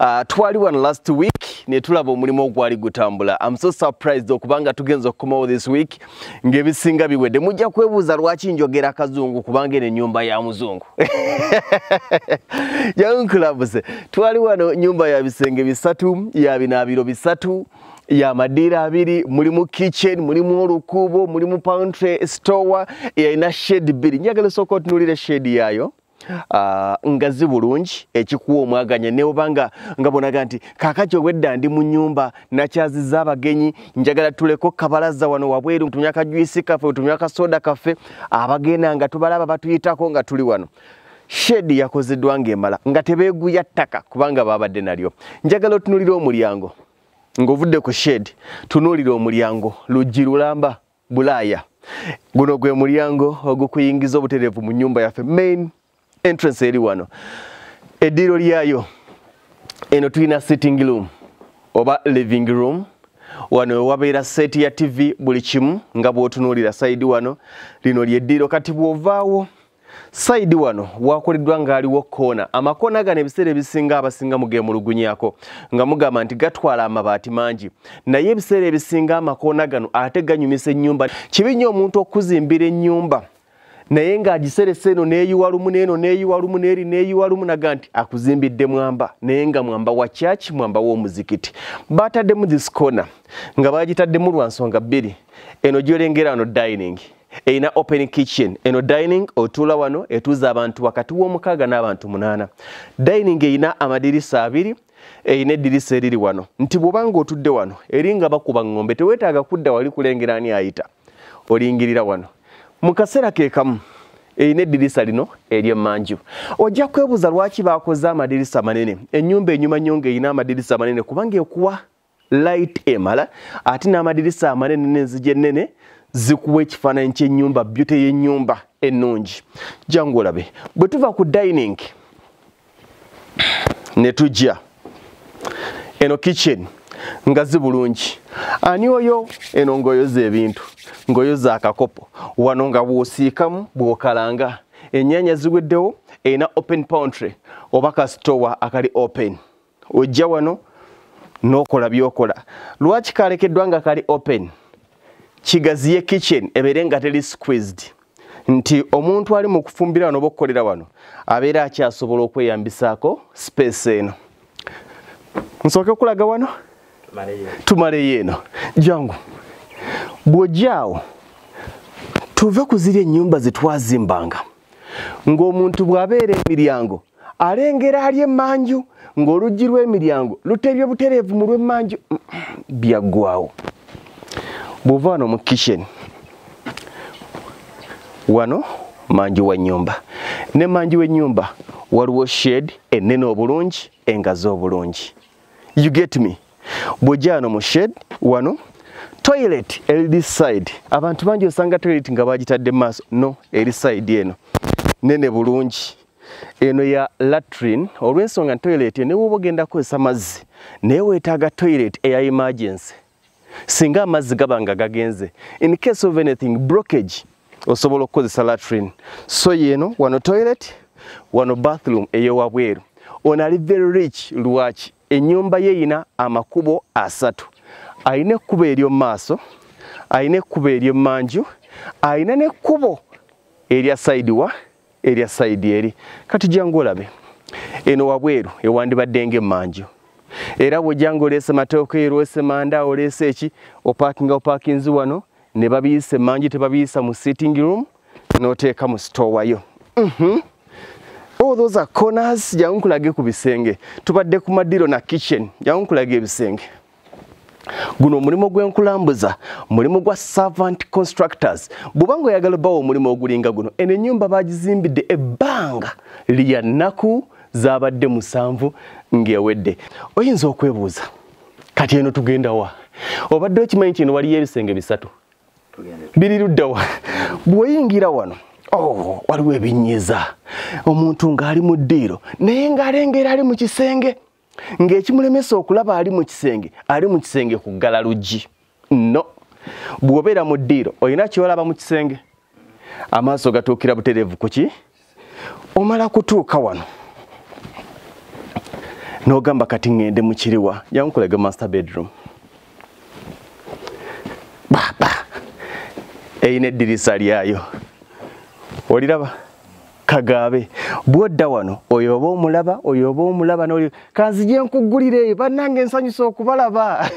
Uh, twali wano last week netulaba omulimu ogwali gutambula am so surprised okubanga tugenza okukomawo this week ngaebisinga biwedde mujja kwebuuza lwaki njogera akazungu kubanga eno enyumba ya muzungu yankulabuse twali wano nyumba ya bisenge bisatu ya binaabiro bisatu ya madiira abiri mulimu kitchen mulimu olukuubo mulimu pantry store yalina shade bbiri njagala osooka otunulira shade yaayo Ah, ngazi bulungi ekikuwa omwaganya newobanga nga bonaga nti kakati obwedda ndi mu nyumba nakyaziza abagenyi njagala tuleko kabalaza wano wabweru ntumya kajwisi kaffe ntumya kasoda kaffe abagenda nga tubalaba batuyitako nga tuli wano shedi yakozeddwa ngaemala nga tebeguya ttaka kubanga babadde nalyo njagala otunulira omulyango ngaovudde ku shedi tunulira omulyango luggi lulamba bulaaya guno gwe mulyango ogukuyingiza obutereevu mu nyumba yaffe main entrance eri wano eddiiro lyayo eno tulina sitting room oba living room wano wewabeera seeti ya tv buli kimu nga bwotunuulira saidi wano lino lyeddiiro kati bwovaawo Saidi wano wakoleddwa ng'aliwo koona amakoona gano ebiseera ebisinga abasinga mugeemulugunyako nga mugamba nti gatwala amabaati mangi naye ebiseera ebisinga amakoona gano ate ganyumisa ennyumba kibi nnyo omuntu okuzimbira ennyumba naye ng'agiseresa eno neeyiwa lumu neeno neeyiwa lumu neeri neeyiwa lumu naga nti akuzimbidde mwamba naye nga mwamba wa kyaki mwamba w'omuzikiti baataddemu this koona nga baagitaddemu lwa nsonga bbiri eno gyolengera wano dining erina open kitchen eno dining otuula wano etuuza abantu wakati w'omukaaga n'abantu munaana dining erina amadirisa abiri erina eddirisa eriri wano nti bw'oba nga otudde wano eringa bakuba ng'ombe teweetaaga kudda wali kulengera ani ayita olingirira wano mu kaseera ke kamu erina eddirisa lino ery'emmanju ojja kwebuuza lwaki baakoze amadirisa manene ennyumba enyuma nnyo ng'erina amadirisa manene kubanga ekuwa light emala ate n'amadirisa amanene n'enzigi ennene zikuwa ekifaananyi ky'ennyumba byute y'ennyumba ennungi jangu olabe bwe tuva ku dining ne tujja eno kitchen nga zi bulungi ani oyo eno ng'oyoza ebintu ng'oyoza akakopo wano nga bw'osiikamu bw'okalanga ennyanya ziweddewo erina open pountry oba kasitowa akali open ojja wano nokola byokola lwaki kalekeddwa nga kali open kigaziye kitchen ebeere nga teli squeezed nti omuntu ali mu kufumbira wano oba okukolera wano abeera akyasobola okweyambisaako space eno nsooke okulaga wano tumaleyo eno jangu bw'ojjaawo tuve ku ziri ennyumba zetwazimbanga ng'omuntu bw'abeera emiryango alengera ali emmanju ng'oluggi lw'emiryango luteebye butereevu mu lw'emmanju byaggwawo bw'ova wano mu kisheni wano manju wa nnyumba ne manju w'ennyumba waliwo shed ennene obulungi engazi obulungi you get me bwojja wano mu shed wano toilet eri this side abantu bangi osanga toilet nga bagitadde maaso no eri side eno nene bulungi eno ya latrine olwensonga toilet newoba ogenda kukozesa mazzi naye wetaaga toilet eya emergency singa amazzi gaba nga gagenze in case of anything brockage osobola okukozesa latrine so yeno wano toilet wano bathroom eyowabweru ono ali very rich lwaki enyumba ye yina amakubo asatu alina ekkubo eryo maaso alina ekkubo eryo manju alina nekkubo erya side wa erya sayidi eri kati jangu olabe eno wabweru ewandibadde ngaemmanju era bwejanga oleese mateeka eri oleese manda oleese eki opakinga opakinzi wano ne babiyisa emmanju tebabiyisa mu sitting room n'oteeka mu sitowayo mhm. oh, those are corners jangu nkulage ku bisenge tubadde ku madiro na kitchen jangu nkulage ebisenge guno omulimu gw'enkulambuza mulimu gwa servant constructors bw'oba nga oyagala bawo omulimu ogulinga guno eno ennyumba baagizimbidde ebbanga lya nnaku zaabadde musanvu ng'ewedde oyinza okwebuuza kati eno tugenda wa obadde okimanyi kino waliyo ebisenge bisatu biri ludda wa bw'oyingira wano oh, waliwo ebinyiza omuntu ng'ali mu ddiiro naye ng'alengera ali mu kisenge ng'ekimulemesa okulaba ali mu kisenge ali mu kisenge ku ggala luggi no bw'obeera mu ddiiro olina kyolaba mu kisenge amaaso gatuukira butereevu ku ki omala kutuuka wano n'ogamba kati ŋŋende mu kiriwa yankulaga master bedroom baba eyina eddirisa lyayo oliraba kagaabe bwodda wano oyo oba omulaba oyo oba omulaba noli kanzije nkuggulira eyo bannange nsanyusa okubalaba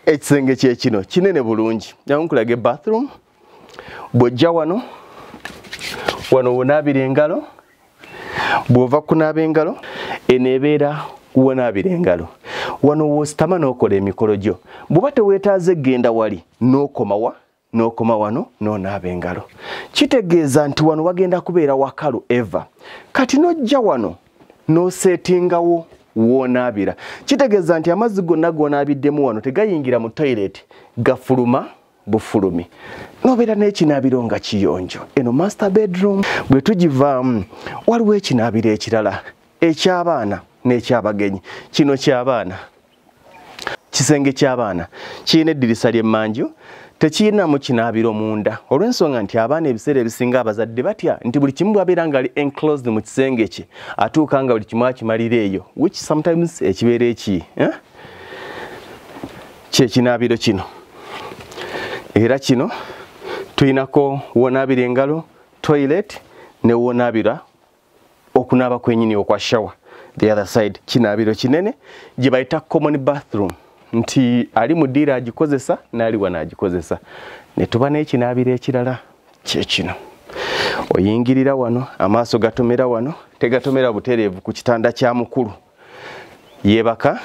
ekisenge kyekino kinene bulungi nyankulaga ebathroom bw'ojja wano wano wonaabira engalo bw'ova kunaaba engalo eno ebeera wonaabira engalo wano wositama n'okola emikolo gyo bw'oba teweetaaze genda wali n'okomawa n'okoma wano n'onaaba engalo kitegeeza nti wano wagenda kubeera wakalu eva kati n'ojja wano n'oseetingawo woonaabira kitegeeza nti amazzi gonna g'onaabiddemu wano tegayingira mu toyireti gafuluma bufulumi nobeera n'ekinaabiro nga kiyonjo eno master bedroom bwe tugivaamu waliwo ekinaabiro ekirala eky'abaana n'ekyabagenyi kino ky'abaana kisenge ky'abaana kirina eddirisa ly'emmanju tekiyinamu kinaabiro munda olw'ensonga nti abaana ebiseera ebisinga abazadde batya nti buli kimu bwabeera nga ali enclosed mu kisenge kye atuuka nga buli kimu akimalira eyo which sometimes ekibeera eki eh? kyekinaabiro kino era kino tulinako wonaabira engalo toilet ne wonaabira okunaaba kwenyini okwa shower the other side kinaabiro kinene gye bayita common bathroom nti ali mu ddiiro agikozesa n'ali wano agikozesa ne tuba n'ekinaabiro ekirala kyekino oyingirira wano amaaso gatomera wano tegatomera butereevu ku kitanda kya mukulu yebaka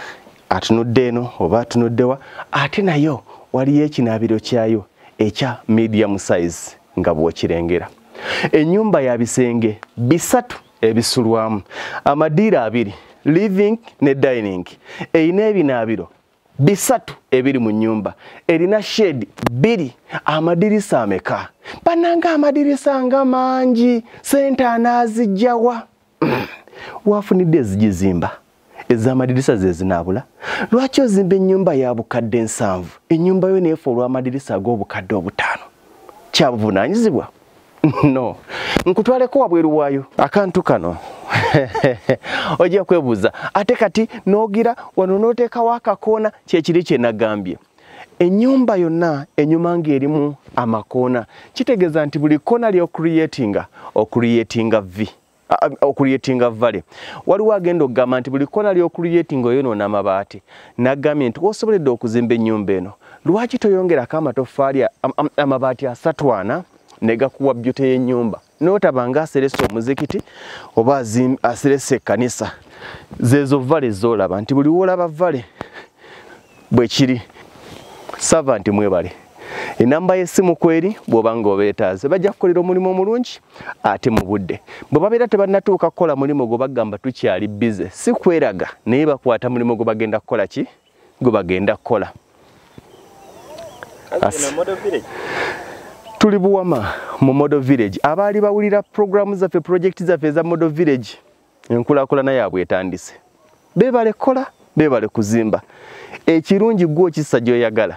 atunudde eno oba atunuddewa ate nayo waliyo ekinaabiro kyayo ekya medium size nga bwokirengera enyumba ya bisenge bisatu ebisulwamu amadiiro abiri living ne dining erina ebinaabiro bisatu ebiri mu nyumba erina shed biri amadirisa ameka bananga amadirisa nga mangi sente anaazijjawa wafunidde ezigizimba ez'amadirisa ze zinaabula lwaki ozimba ennyumba ya bukadde ensanvu ennyumba yo neefa olw'amadirisa ag'obukadde obutaano kyabuvunaanyizibwa no nkutwaleko wabweru waayo akantu kano ojja kwebuuza ate kati n'ogira wano n'oteekawo akakoona kyekiri kye nagambye enyumba yonna enyuma nga erimu amakoona kitegeeza nti buli koona ly'okuliyetinga okuliyetinga vi okuliyetinga vale waliwo agenda okugamba nti buli koona ly'okuliyetinga oyonoona amabaati nagambye nti wosoboledde okuzimba enyumba eno lwaki toyongerako amatoffaali amabaati asatwana negakuwa byute y'enyumba notaba nga aseresa omuzikiti oba aseresa ekkanisa zezo vale zolaba nti buli wolaba vale bwekiri sava nti mwebale enamba yesimu kweri bwoba nga obetaaze bajja kukolera omulimu omulungi ate mu budde bwe babeera tebannatuuka kukola mulimu gwe bagamba tukyali bize si kweraga naye bakwata mulimu gwe bagenda kukola ki gwe bagenda kukola tuli buwama mu model village abaali bawulira programu zaffe projekiti zaffe eza model village enkulakulana yaabwe etandise bebale kukola bebale kuzimba ekirungi gwe okisa gyoyagala